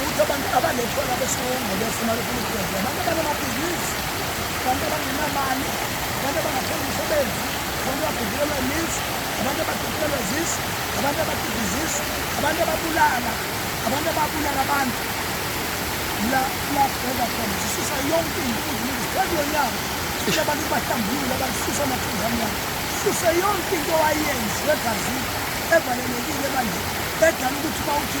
Ukuthi abantu abanethola besilungu befuna lokhu ukwenza abantu abanamabhizinisi, abantu abangenamali, abantu abangathola umsebenzi, abantu abagugulelwa imizi, abantu abagugulelwa zisu, abantu abagida izisu, abantu ababulala, abantu ababulala abantu la la bheka khona sisusa yonke into ukuzilungisa phezu konyaka sisho abantu bahlambulule abasusa amathunzi amnyama sisuse yonke into owayenzi egazini evalelekile manje edala ukuthi uma uthi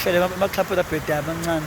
hlele baxhaphe labheda abancane